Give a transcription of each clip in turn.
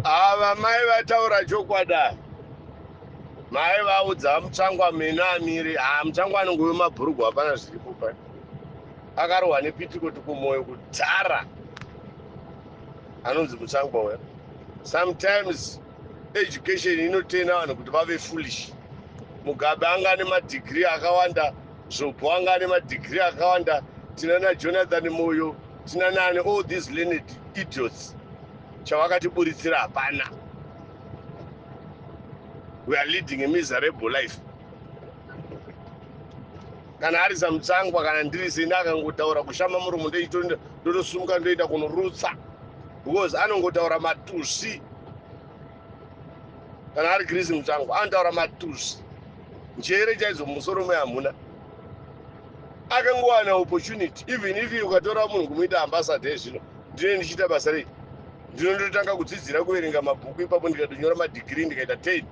Ava mai vataura chokwada mai vaudza mutsvangwa mina amiri haa ah, mutsvangwa anenge uyo mabhurugwa hapana zviripo pa akarohwa nepitiko tikumoyo kudhara anonzi mutsvangwa uya sometimes education inotena vanhu kuti vave foolish mugabe anga ane madigiri akawanda zvobo anga ane madigiri akawanda tinana jonathan moyo tinanani all these learned idiots chawakatiburitsira hapana we are leading a miserable life kana ari samutsangwa kana ndiri seni akangotaura kushama muromo ndotosumuka ndoenda kunorutsa because anongotaura matusi kana ari grisi mutsangwa anotaura matusi njere chaidzo mumusoro me hamuna akangowana opportunity even if ukatora munhu kumuita ambassador ezvino ndine ndichiita basa rei ndinondotanga kudzidzira kuverenga mabhuku ipapo ndikatonyora madhigirii ndikaita ten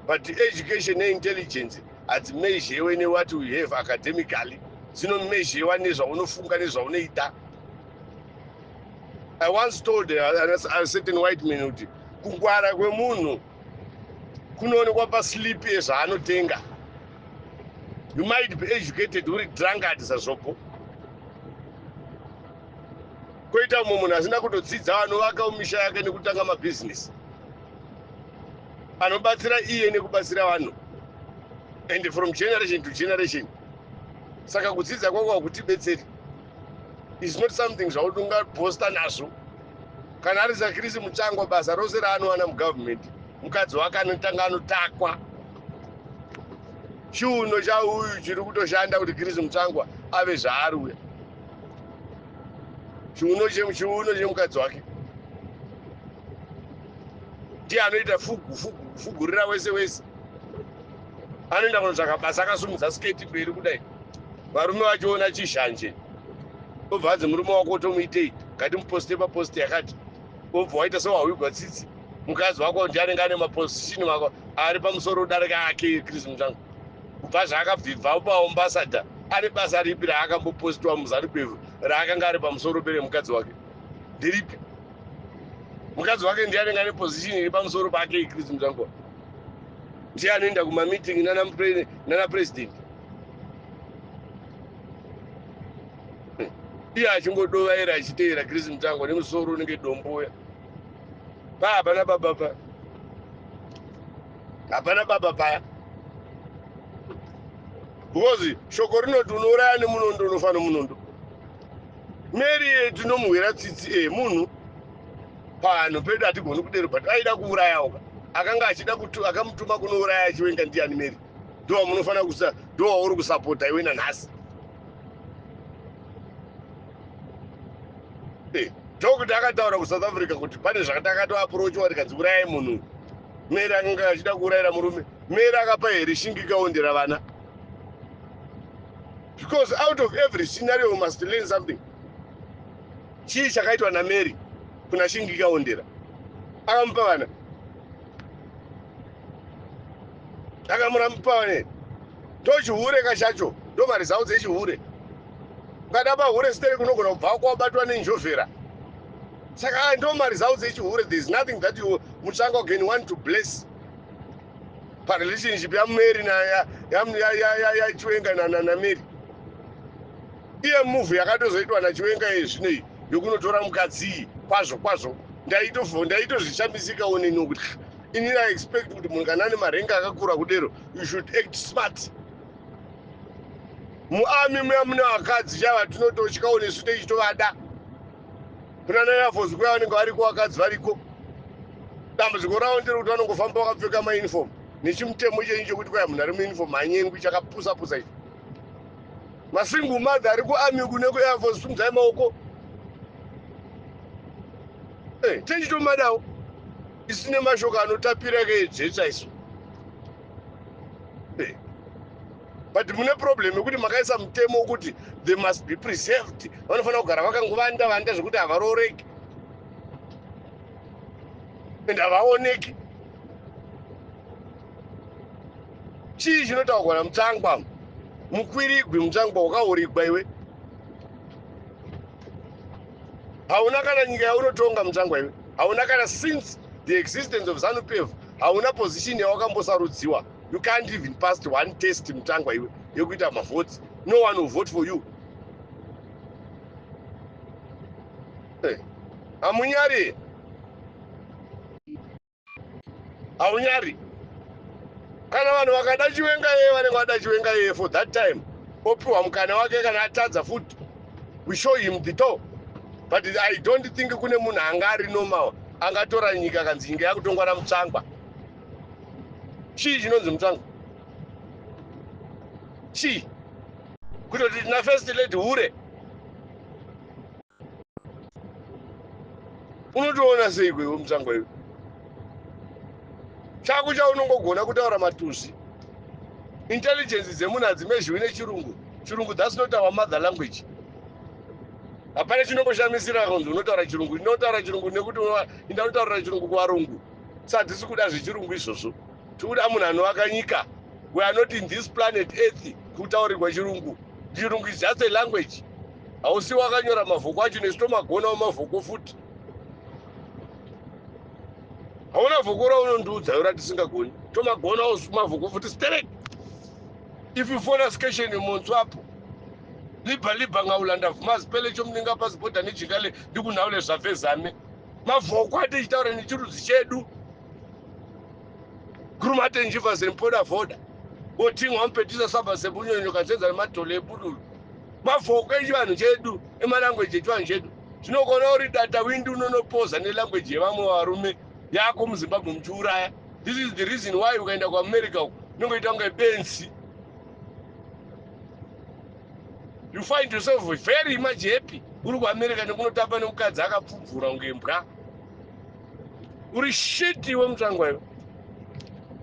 but education neintelligence hadzimezhewe newhat we have academically dzinomezhewa nezvaunofunga nezvaunoita i once told a certain white man kuti kungwara kwemunhu kunoonekwa paslipi yezvaanotenga you might be educated uri drunkard sazvopo koita umwe munhu asina kutodzidza anovaka misha yake nekutanga mabhizinesi anobatsira iye nekubatsira vanhu and from generation to generation saka kudzidza kwako hakutibetseri is not something zvakuti ungabhosta nazvo kana ari zakirisi muchangwa basa rose raanowana mugovernment mukadzi wake anotanga anotakwa chiuno chauyu chiri kutoshanda kuti kirisi muchangwa ave zvaari uya chiuno chiuno chemukadzi wake ndiye anoita fugu fugu kufugurira wese wese Anoenda kunotsvaka basa akasimudza sketi mberi kudai varume vachiona chizhanje obva anzi murume wako otomuitei ngatimuposte papost yakati obva waita sewahwigwa tsitsi mukadzi wako ndi anenge ane maposishini wako ari pamusoro odarika ake chris mutsvangu kubva zvaakabvibva upaombasada ane basa ripi raakambopostiwa muzarupevhu raakanga ari pamusoro pere mukadzi wake ndiripi mukadzi wake ndi anenge ane posishini iri pamusoro pake chris mutsvangu ndiye anoenda kumameeting nana president iye achingodovaira achiteera chris mutangwa nemusoro unenge domboya pa hapana baba pa hapana baba paya because shoko rinoti unouraya nemunondo unofa nomunondo mary tinomuhwira tsitsi e eh, munhu Panhu pedu hatigoni kudero but aida kuurayawo ka akanga achida kutu akamutuma kunouraya chiwenga ndiani Mary ndowa munofanira kusa ndowa uri kusapota iwe nanhasi eh, Doctor akataura kuSouth Africa kuti pane zvakatakato approachwa tikanzi urayai munhu Mary akanga achida kuurayira murume Mary akapa here shingika ondera vana because out of every scenario we must learn something Chii chakaitwa naMary kuna Shingika Ondera? Akamupa vana? Akamupa vana? Ndochihure ka chacho, ndomari zao dzechihure. Ukada pahure siteri kunogona kubva kwabatwa nenjovhera. Saka ah, ndomari zao dzechihure, there is nothing that you mutsvanga can want to bless parelationship yamary yachiwenga namary Iye move yakatozoitwa naChiwenga iye zvino iyi yokunotora mukadzi iyi kwazvo kwazvo ndaitofo ndaitozvishamisikawo neni wokuti ah, ini I expect kuti munhu kana ane marenga akakura kudero you should act smart muami muya mune vakadzi chaiva tinototyawo nesu teichitovada kuna nayafos kuya vanenge variko vakadzi variko dambudziko ravo ndiri kuti vanongofamba vakapfeka mauniform nechimutemo chenyu chekuti kwaya munhu ari muuniform hanyengwi chakapusa pusa ichi masingle mother ari kuarmy uku nekuair force simudzai maoko hey, eh, tenditomadawo isine mashoko anotapira keedzetsa isu hey. Eh, but mune problem yekuti makaisa mutemo wekuti they must be preserved vanofanira kugara vakangovanda vanda zvekuti havarooreki and havaoneki chii chinotaurwa namutsangwa mukwirigwi mutsangwa wakaurigwa iwe hauna kana nyika yaunotonga mutsangwa iwe hauna kana since the existence of zanupf hauna position yawakambosarudziwa you can't even past one test mutsangwa iwe yekuita mavotes no one will vote for you eh, hamunyari hey. haunyari kana vanhu vakada chiwenga yeye vanenge vada chiwenga yeye for that time opiwa mukana wake kana atadza futi we show him the door but i don't think kune munhu anga ari normal angatora nyika kanzi nyika yakutongwa namutsvangwa chii chinonzi mutsvangwa chii kutoti tina first lady hure unotoona seiko iwe mutsangwa iwe chako chaunongogona kutaura matuzi intelligence dzemunhu hadzimezhiwi nechirungu chirungu thats not our mother language hapana chinongoshamisira kunzi unotaura chirungu ndinotaura chirungu nekuti inda unotaurira chirungu kuvarungu sa hadzisi kuda zvechirungu izvozvo Tikuda munhu anovaka nyika. We are not in this planet earth kutaurirwa chirungu. Chirungu is just a language. Hausi wakanyora mavhoko acho nesu tomagonawo mavhoko futi. Hauna vhoko raunondiudza yora tisingagoni. Tomagonawo mavhoko futi sterek. If you phone us question yemonso apo. Liba liba ngaulanda vhumazi pele chomuninga pasi boda nejikale ndikunhaule zvavezame. Mavhoko atichitaura nechirudzi chedu. Grumate njiva ziri mpoda voda. Botingwa mpetisa saba sebunyonyo kanzenza nematole ebudulu. Mavoko echivanhu chedu emalanguage echivanhu chedu. Zvinokona uri data windi unonopoza nelanguage yevamwe varume yako muZimbabwe muchiuraya. This is the reason why ukaenda kuAmerica uko unongoita kunge benzi. You find yourself very much happy uri kuAmerica nekunotamba nemukadzi akapfubvura kunge mbwa. uri shit iwe mutsvangwa iwe.